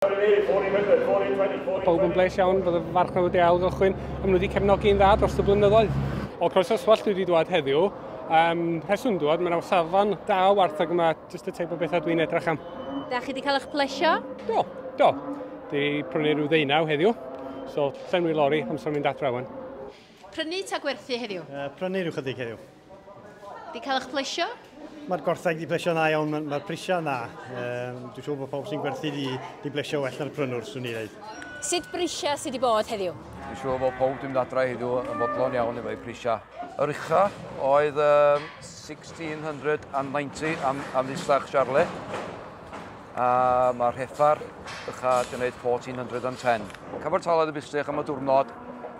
Mae pawb yn bles iawn, bod y farchnad wedi ail gychwyn, a maen nhw wedi cefnogi yn dda dros y blynyddoedd. O Croesoswallt dwi wedi dwad heddiw, um, rheswm dwad, mae'n awsafon da o wartheg yma, jyst y teip o bethau dwi'n edrych am. Da chi wedi cael eich plesio? Do, do. Di prynu rhyw ddeunaw heddiw, so llenwi lori amser mynd adre wan. Prynu ta gwerthu heddiw? Uh, prynu rhyw chydig heddiw. Di cael eich plesio? Mae'r gwartheg di plesio na iawn, mae'r mae prisiau na. Um, dwi'n siŵr bod pawb sy'n gwerthu di, di blesio well na'r prynwr, swn i ddeud. Sut brisiau sydd wedi bod heddiw? Dwi'n siŵr bod pob dim dadra heddiw yn fodlon iawn efo'i prisiau. Yr ucha oedd um, 1690 am, am ddisach Charlie. A mae'r heffar ucha di wneud 1410. Cyfartaledd y bistych am y diwrnod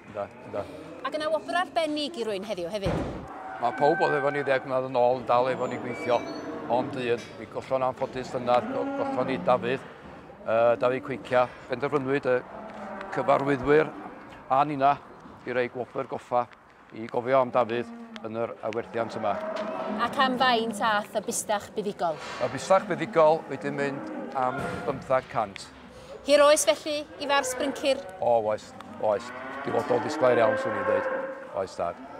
Ynddo, ynddo. Ac yna wobr arbennig i rwy'n heddiw hefyd. Mae pawb oedd efo ni ddeg mlynedd yn ôl yn dal efo ni gweithio. Ond un, mi gollon anffodus llynedd, gollon ni Dafydd, uh, Dafydd Cweicia. Penderfynwyd y cyfarwyddwyr a nina i roi gwobr goffa i gofio am Dafydd yn yr awerthiant yma. Ac am faint ath y bustach buddigol? Y bustach buddigol wedi mynd am 500. Hir oes felly i farw sbrincir? O, oes, oes. Dyfodol disglair iawn, swn i'n dweud. Oes, tad.